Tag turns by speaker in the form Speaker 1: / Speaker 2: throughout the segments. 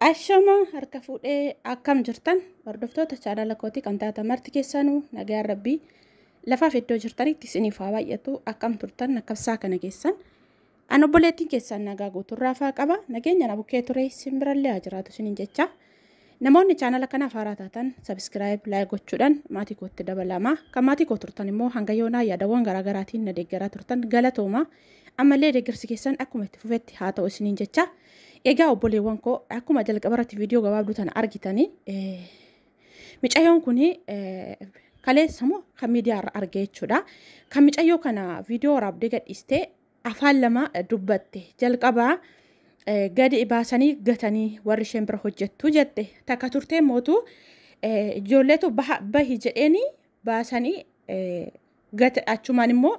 Speaker 1: Ashama harka fuudhee akkam jirtan hordoftoota chaanala kootii kan taatan marti keessanuu nagaan rabbii lafaaf iddoo jirtanitti isiniif haa baay'atu akkam turtan akkam isaa kana keessan An obboleettiin keessaan nagaa guuturraa faa qaba. Nageenya na bukkee ture isin birallee haa jiraatu isiniin jecha. Namoonni chaanala kanaaf haaraa taatan sabiskiraayib laayik gochuudhaan maatii kootti dabalama. Kan maatii koo turtan immoo hanga yoonaa yaadawwan garaagaraatiin na deeggaraa turtan galatooma. Ammallee deeggarsi keessan akkuma itti fufetti haa ta'u isiniin jecha. Egaa obboleewwan koo akkuma jalqaba irratti viidiyoo gabaabduu tana argitanii micayoon kun kaleessa moo kan miidiyaa irra argee jechuudha. Kan micayyoo kana viidiyoo waraabdee gadhiistee afaan lama dubbatte jalqabaa eh, gadi baasanii gatanii warri isheen bira hojjettu jette takka turtee mootu eh, ijoolleetu baha bahi jedheeni baasanii eh, gate achumaan immoo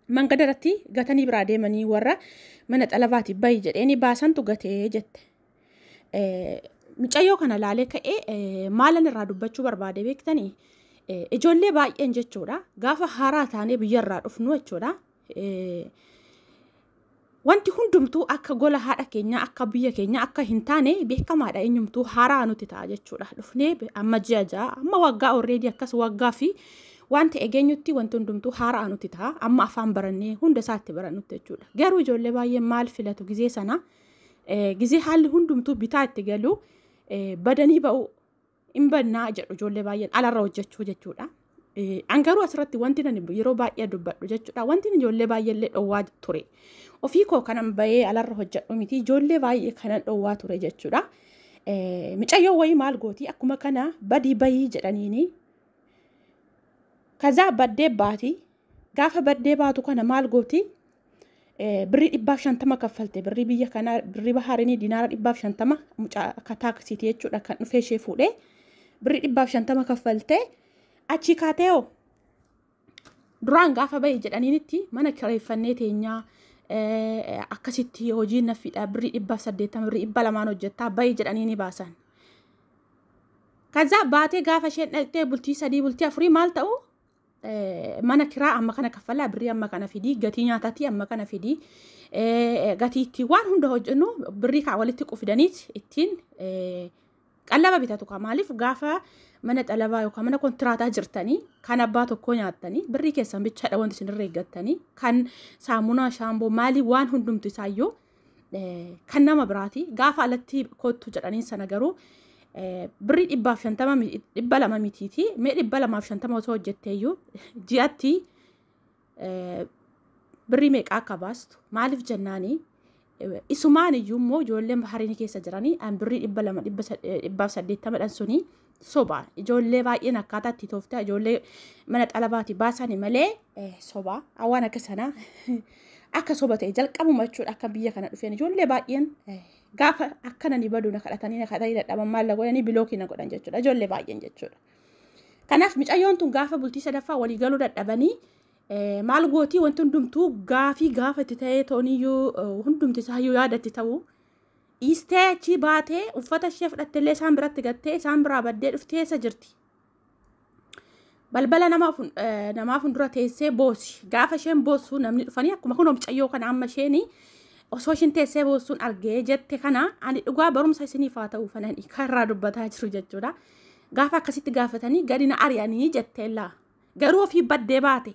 Speaker 1: mangada irratti gatanii biraa deemanii warra mana xalabaati bahi jedheeni baasantu gatee jette. Eh, Micayyoo kana laalee ka'ee eh, maalan irraa dubbachuu barbaade beektanii Eh, ijoollee baay'een jechuudha gaafa haaraa taanee biyyarraa dhufnu jechuudha Wanti hundumtuu akka gola haadha keenyaa akka biyya keenyaa akka hin taane beekamaadha eenyumtuu haaraa nuti ta'a jechuudha. Dhufnee amma ji'a ja'a amma waggaa orreedii akkas waggaa fi wanti egeenyutti wanti hundumtuu haaraa nuti ta'a amma afaan barannee hunda isaatti barannutti jechuudha. Garuu ijoollee baay'ee maal filatu gizee sana gizee haalli hundumtuu bitaa itti galu badanii ba'u hin bannaa jedhu ijoollee baay'een alarra hojjechuu jechuudha. An garuu asirratti wanti nani yeroo baay'ee dubbadhu jechuudha. Wanti ijoollee baay'eellee dhowwaa ture. Ofii koo kanan bahee alarra hojjedhu miti ijoollee baay'ee kanan dhowwaa ture jechuudha. Micayyoo wayii maal gooti akkuma kana badii bayii jedhaniini. Kazaa baddee baati. Gaafa baddee baatu kana maal gooti birrii dhibbaaf shantama kaffalte birrii biyya kanaa birrii bahaarinii dinaara dhibbaaf shantama mucaa akka taaksiiti jechuudha kan dhufee ishee fuudhee birrii dhibbaaf shantama kaffalte achii kaateeoo duraan gaafa bahi jedhaniinitti mana kireeffannee teenyaa akkasitti hojii naffiidha birrii dhibbaaf saddeettama birrii dhibba lamaan hojjettaa bahi jedhanii ni baasan. Kazaa baatee gaafa isheen dhaqxee bultii sadii bultii afurii maal ta'uu mana kiraa amma kana kaffalaa birrii amma kana fidii gatii nyaatatii amma kana fidii gatii itti waan hunda hojjennu birrii kaa walitti qufidaniit ittiin qallaba bitatu kaa maaliif gaafa mana xalabaa yookaan mana kontiraataa jirtanii kan abbaa tokkoo nyaattanii birrii keessan bichaadha wanti isinirra eeggattanii kan saamunaa shaamboo maalii waan hundumti isaayyuu kan nama biraati gaafa alatti koottu jedhaniin sana garuu birrii dhibbaaf shantama dhibba lama mitiiti mee dhibba lamaaf shantama osoo hojjetteeyyuu ji'atti birrii meeqaa akka baastu maaliif jennaanii isumaan iyyuu immoo ijoolleen bahariin keessa jiranii an birrii dhibba lama dhibbaaf saddeettamadhan sunii Sobaa ijoollee baay'een akkaataa itti tooftaa ijoollee mana xalabaati baasani malee eh, sobaa waan akka sanaa akka soba ta'e jalqabuma jechuudha akka biyya kana dhufeen ijoollee baay'een eh, gaafa akkana ni badu na kadhatanii na kadhatanii dadhaban maal na godhanii bilookii na godhan jechuudha ijoollee baay'een jechuudha. Kanaaf micayyoon tun gaafa bultii sadaffaa walii galuu dadhabanii eh, maal gootii wanti hundumtuu gaafii gaafa itti ta'ee tooniyyuu eh, hundumti isaayyuu yaadatti ta'u dhiistee achii baatee uffata ishee fudhatteellee isaan biratti gattee isaan biraa baddee dhuftee eessa jirti? Balbala nama fun- eh, namaa fuuldura teessee boosi. Gaafa isheen boossu namni dhufanii akkuma kun mucayyoo kana amma isheen osoo isheen teessee boossuun argee jette kana ani dhugaa barumsa isiniif haa ta'u fanani kan irraa dubbataa jiru jechuudha. Gaafa akkasitti gaafatanii gadi na ari'anii jetteellaa. Garuu ofii baddee baate.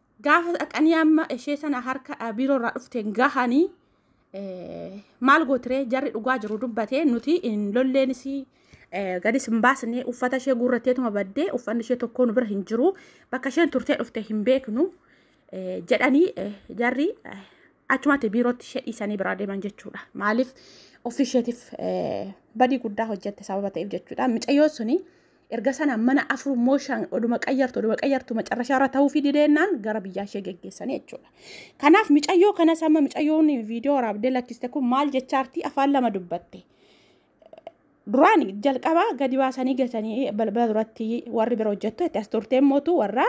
Speaker 1: Gaafa dhaqanii amma ishee sana harka eh, biiroo irraa dhufteen gahanii eh, maal gootiree jarri dhugaa jiru dubbatee nuti hin lolleenis eh, gadis hin baasne uffata ishee guurratteetuma baddee uffanni ishee tokkoo nu bira hin jiru bakka isheen turtee dhufte hin beeknu eh, jedhanii eh, jarri eh, achumatti biirootti ishee dhiisanii biraa deeman jechuudha. Maaliif ofii isheetiif eh, badii guddaa hojjette sababa ta'eef jechuudha. Micayyoo suni Erga sana mana afur immoo shan oduma qayyartu oduma qayyartu macarrashaa irra ta'uufi dideennaan gara biyyaa ishee geggeessanii jechuudha. Kanaaf micayyoo kanas amma micayyoon viidiyoo waraabdee lakkiste kun maal jechaartii afaan lama dubbatte. Duraan jalqabaa gadi baasanii gatanii balbala duratti warri bira hojjettu itti as turteen mootu warra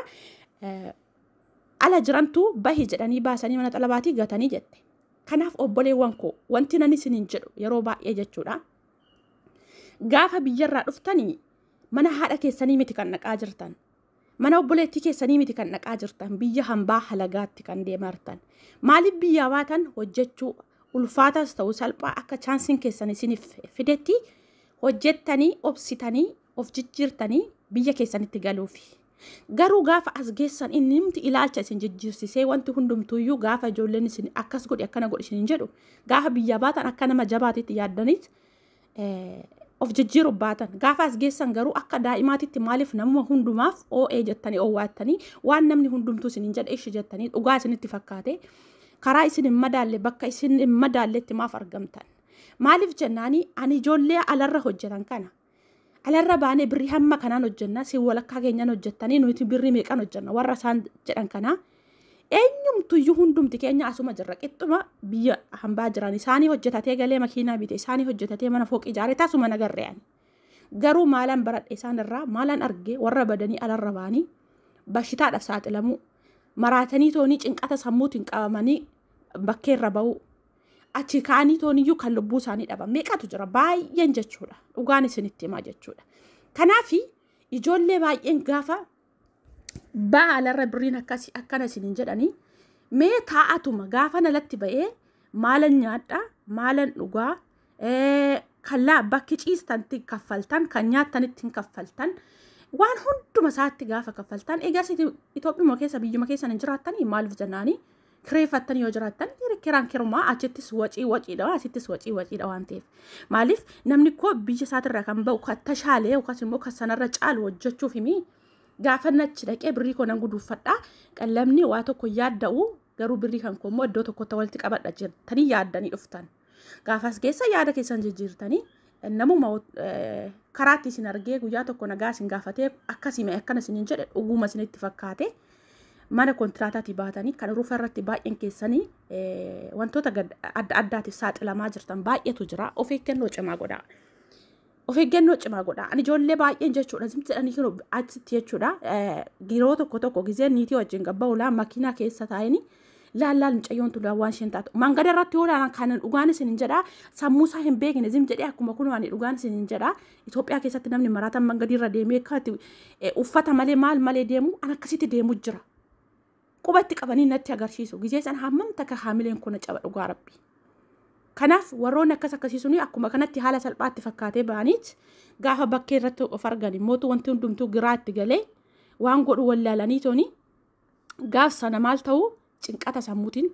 Speaker 1: ala jirantu bahi jedhanii baasanii mana xalabaatii gatanii jette. Kanaaf obboleewwan koo wanti nan isiniin jedhu yeroo baay'ee jechuudha. Gaafa biyyarraa dhuftanii mana haadha keessanii miti kan dhaqaa jirtan. Mana obboleettii keessanii miti kan dhaqaa jirtan. Biyya hambaa halagaatti kan deemartan. Maaliif biyyaa baatan hojjechuu ulfaataas ta'u salphaa akka chaansiin keessan isiniif fidetti hojjettanii obsitanii of jijjiirtanii biyya keessanitti galuufi. Garuu gaafa as geessan inni himti ilaalcha isin jijjiirsisee wanti hundumtuuyyuu gaafa ijoolleen isin akkas godhi akkana godhi isin jedhu gaafa biyya baatan akka nama jabaatitti yaaddaniit of jijjiiru baatan gaafa as geessan garuu akka daa'imaatitti maaliif namuma hundumaaf oo'ee jettanii oowwaattanii waan namni hundumtuu isin jedhe ishi jettanii dhugaa isinitti fakkaate karaa isin hin madaalle bakka isin hin madaalletti maaf argamtan maaliif jennaanii ani ijoollee alarra hojjetan kana Alarra baanee birrii hamma kanaan hojjenna si walakkaa keenyaan hojjettanii nuti birrii meeqan hojjenna warra isaan jedhan kanaa. Eenyumtuyyuu hundumti keenya asuma jirra qixxuma biyya hambaa jiran isaanii hojjetatee galee makiinaa bite isaanii hojjetatee mana fooqii ijaaree tasuma nagarre ani. Garuu maalaan baradhe isaan irraa maalaan arge warra badanii alarra baanii bashitaadhaaf saaxilamuu maraatanii toonii cinqata sammuutiin qabamanii bakkeerra ba'uu achi kaanii tooniyyuu kan lubbuu isaanii dhaban meeqatu jira baay'een jechuudha dhugaan isinitti himaa jechuudha kanaaf ijoollee baay'een gaafa baalarra birriin akkasi akkana isiniin jedhanii mee taa'atuma gaafan alatti ba'ee maalan nyaadha maalan dhugaa kallaa bakki ciistanti kaffaltan kan nyaattanitti hin kaffaltan waan hunduma isaatti gaafa kaffaltan egas Itoophiyaa keessa biyyuma keessa hin jiraattan maaliif jennaanii kireeffattan yoo jiraattan kiraan kirumaa achittis wacii waciidha asittis wacii waciidha waan ta'eef maaliif namni koo biyya isaatirraa kan ba'u kan tashaalee yookaas immoo kan sanarra caalu hojjechuuf himi gaafa nachi dhaqee birrii koo nan guduuffadha qallamni waa tokko yaadda'u garuu birrii kan koo immoo iddoo tokkotti walitti qabadha jettanii yaaddanii dhuftan. Gaafas keessa yaada keessan jijjiirtanii namuma karaatti isin argee guyyaa tokko nagaa isin gaafatee akkasime akkana isin hin jedhe dhuguma isinitti fakkaate mana kontiraataatii baatanii kan rufa irratti baay'een keessanii wantoota adda addaatiif saaxilamaa jirtan baay'eetu jira of eeggannoo cimaa godhaa. of eeggannoo cimaa godha. Ani ijoollee baay'een jechuudha zimti jedhanii yeroo achitti jechuudha yeroo tokko tokko gizeen niitii wajjin gabba ulaa makiinaa keessa taa'anii laallaal mucayyoon tulaa waan isheen taatu mangada irratti yoo laalan kan dhugaan isin hin jedhaa sammuu isaa hin beekne zim jedhee akkuma kun ani dhugaan isin hin jedhaa Itoophiyaa keessatti namni maraataan mangadii irra deemee akkatti uffata malee maal malee deemu an akkasitti deemu jira. qubatti qabanii natti agarsiisu gizee san hammam takka haamileen koo na caba dhugaa rabbi kanaaf warroonni akkas akkasii suni akkuma kanatti haala salphaatti fakkaatee ba'aniit gaafa bakkee irratti of argan immootu wanti hundumtuu giraatti galee waan godhu wallaalanii toni gaaf sana maal ta'u cinqata sammuutiin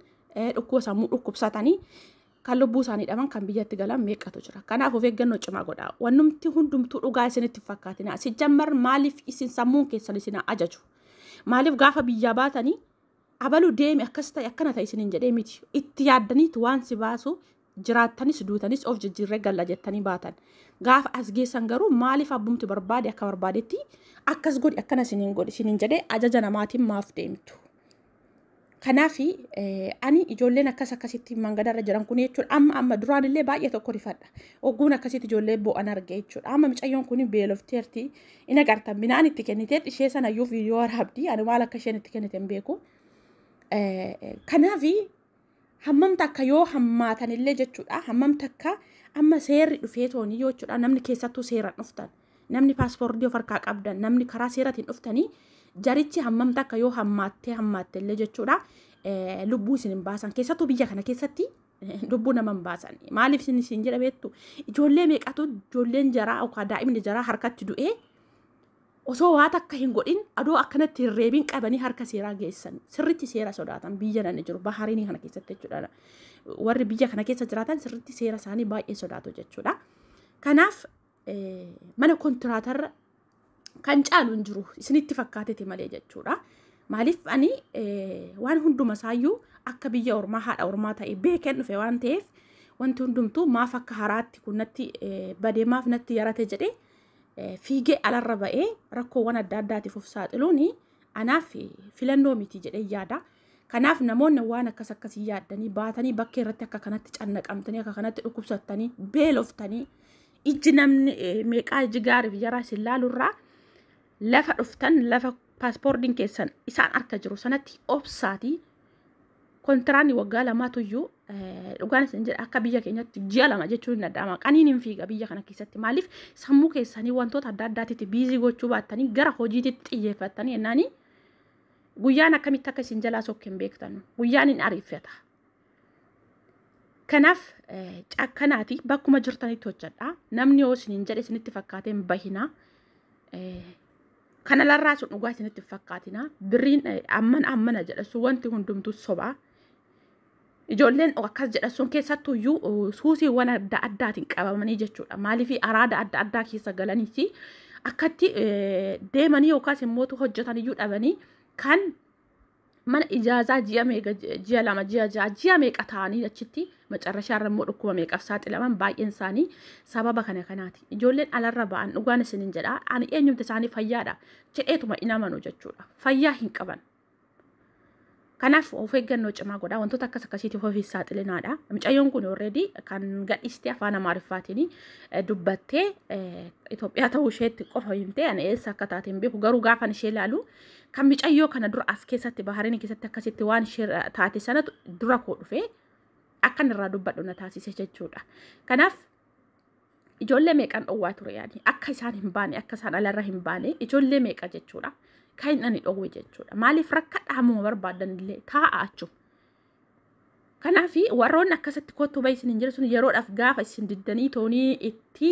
Speaker 1: dhukkuba sammuu dhukkubsatanii kan lubbuu isaanii dhaban kan biyyatti galan meeqatu jira. Kanaaf of eeggannoo cimaa godhaa. Wannumti hundumtuu dhugaa isinitti fakkaatinaa. Sijjammar maaliif isin sammuun keessan isin ajaju? Maaliif gaafa biyyaa baatanii abaluu deemi akkas ta'e akkana ta'e isiniin jedhee miti. Itti yaaddaniitu waan si baasu jiraattanis duutanis of jijjiirree galla jettanii baatan. Gaafa as geessan garuu maaliif abbumti barbaade akka barbaadetti akkas godhi akkana isiniin godhi isiniin jedhee ajaja namaatiin maaf deemtu. Kanaaf ani ijoolleen akkas akkasitti mangadarra jiran kun jechuudha amma amma duraan illee baay'ee tokko rifadha. Ogguun akkasitti ijoollee bo'an arge jechuudha. Amma micayyoon kun beelofteerti in agartan midhaan itti kennitee ishee sana iyyuu viidiyoo waraabdi ani maal akka isheen itti kennite hin beeku. Kanaaf hammam takka yoo hammaatan illee jechuudha hammam takka amma seerri dhufee toonii yoo jechuudha namni keessattuu seeraan dhuftan namni paaspoortii of harkaa qabdan namni karaa seeratiin dhuftanii jarichi hammam takka yoo hammaattee hammaatte illee jechuudha eh, lubbuu isin hin baasan keessattuu biyya kana keessatti eh, lubbuu nama hin baasan maaliif isin isin jedha beektu ijoollee meeqatu ijoolleen jaraa yookaan daa'imni jaraa harkatti du'ee osoo waa takka hin godhin adoo akkanatti hin reebin qabanii harka seeraa geessan sirritti seera sodaatan biyya nani jiru bahaarinii kana keessatti jechuudha warri biyya kana keessa jiraatan sirritti seera isaanii baay'ee sodaatu jechuudha kanaaf mana kontiraatarra kan caalu hin jiru isinitti fakkaatete malee jechuudha maaliif ani waan hunduma isaayyuu akka biyya ormaa haadha ormaa ta'e beekeen dhufe waan ta'eef wanti hundumtuu maaf akka haraatti kun natti badee maaf natti yarate jedhee fiigee alarra ba'ee rakkoowwan adda addaatiif of saaxiluun anaaf filannoo miti jedhee yaada. Kanaaf namoonni waan akkas akkasii yaaddanii baatanii bakkee irratti akka kanatti cannaqamtanii akka kanatti dhukkubsattanii beeloftanii ijji namni meeqaa ijji gaariif jaraa isin laalurraa lafa dhuftan lafa paaspoordiin keessan isaan harka jiru sanatti obsaatii Kontiraanni waggaa lamaatu iyyuu dhugaan isin jedha akka biyya keenyatti ji'a lama jechuun hin danda'ama. Qaniin hin fiiga biyya kana keessatti maaliif sammuu keessanii wantoota adda addaatitti biizii gochuu baattanii gara hojiititti xiyyeeffattanii jennaanii guyyaan akkamitti akka isin jalaa sokke hin beektanu. Guyyaan hin ariifata. Kanaaf cakkanaati bakkuma jirtanitti hojjedha. Namni yoo isin hin jedhe isinitti fakkaatee hin bahinaa. Kana larraa sun dhugaa isinitti hin fakkaatina. Birriin eh, ammana ammana jedha sun wanti hundumtuu sobaa. Ijoolleen akkas jedha sun keessattuu iyyuu eh, suusiiwwan adda addaatiin qabamanii jechuudha. Maaliif araada adda addaa keessa galaniiti akkatti eh, deemanii yookaas immoo hojjetan iyyuu dhabanii kan mana ijaazaa ji'a meeqa ji'a lama ji'a ja'a ji'a meeqa ta'anii achitti macarrashaa irra immoo dhukkuba meeqaf saaxilaman baay'een isaanii sababa kana kanaati ijoolleen alarra ba'an dhugaan isinin jedha ani eenyumti isaanii fayyaadha jedheetuma hin amanu jechuudha fayyaa hin qaban kanaaf of eeggannoo cimaa godhaa wantoota akkas akkasiitiif ofiif saaxilinaadha mucayyoon kun already kan gadhiiste afaan amaariffaatiin dubbattee Itoophiyaa ta'uu isheetti qofa himtee ani eessa akka taate hin beeku garuu gaafan ishee ilaalu Kan micayyoo kana dura as keessatti bahareen keessatti akkasitti waan ishee taate sanatu dura koo dhufee akkan irraa dubbadhu na taasise jechuudha. Kanaaf ijoollee meeqan dhowwaa ture yaani akka isaan hin baane akka isaan alarra hin baane ijoollee meeqa jechuudha. Kan hin dhani dhowwe jechuudha. Maaliif rakkadha hammuma barbaadan illee taa'a achu. Kanaaf warroonni akkasitti kottu bahi isin hin jiru sun yeroodhaaf gaafa isin diddanii toonii itti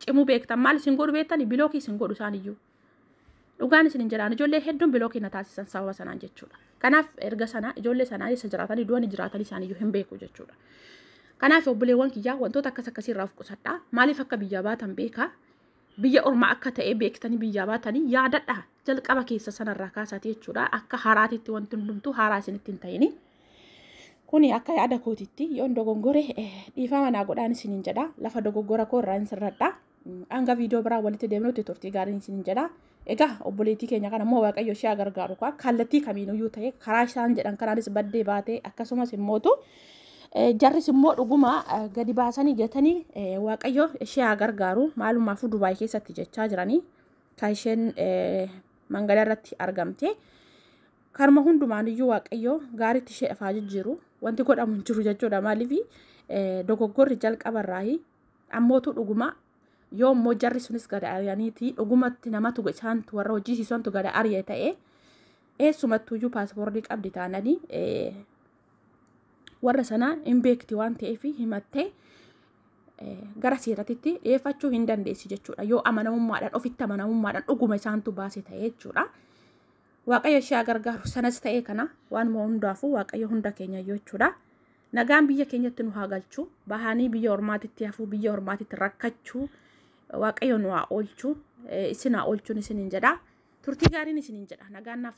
Speaker 1: cimuu beektan maal isin godhu beektani bilookii isin godhu isaaniyyuu. Dhugaan isin hin jedhaan ijoollee hedduun biloo keenya taasisan sababa sanaan jechuudha. Kanaaf erga sanaa ijoollee sanaa eessa jiraatanii du'anii jiraatanii isaaniyyuu hin beeku jechuudha. Kanaaf obboleewwan kiyyaa wantoota akkas akkasii irraa of qusadhaa maaliif akka biyyaa baatan beekaa biyya ormaa akka ta'e beektanii biyyaa baatanii yaadadha jalqaba keessa sanarraa kaasaati jechuudha akka haraatitti wanti hundumtuu haraa isinitti hin ta'ini. Kuni akka yaada kootitti yoon dogongore dhiifama naa godhaan isiniin jedha lafa dogoggora koo irraa hin sirradha. Hanga viidiyoo biraa walitti deemnutti turtii gaariin isin jedha. Egaa obboleettii keenya kana immoo Waaqayyo ishee gargaaru kaa kallattii kamiinuyyuu ta'e karaa isaan jedhan kanaanis baddee baatee akkasumas immootu jarris immoo dhuguma gadi baasanii gatanii Waaqayyo ishee haa gargaaru maalumaafuu Dubaay keessatti jechaa jiranii kan isheen mangala irratti argamte. Karma hundumaaniyyuu Waaqayyo gaariitti ishee dhafaa jijjiiru wanti godhamu hin jiru jechuudha maaliif dogoggorri jalqabarraayi Ammootu dhuguma yoo immoo jarri sunis gada ari'aniiti dhugumatti namatu isaantu warra hojii siisantu gada ari'e ta'e eessumattuyyuu paaspoortii qabdi taananii warra sanaa hin beekti waan ta'eef himattee gara seeratitti dhiyeeffachuu hin dandeessi jechuudha yoo amanamummaadhaan ofitti amanamummaadhaan dhuguma isaantu baase ta'e jechuudha. Waaqayyo ishee gargaaru sanas ta'ee kana waan hundaafuu waaqayyo hunda keenya jechuudha. Nagaan biyya keenyatti nu haa galchu. Bahanii biyya ormaatitti hafuu, biyya ormaatitti rakkachuu waaqayyo nu haa oolchu. Isin haa oolchuun isiniin jedha. Turtii gaariin isiniin jedha. Nagaan naaf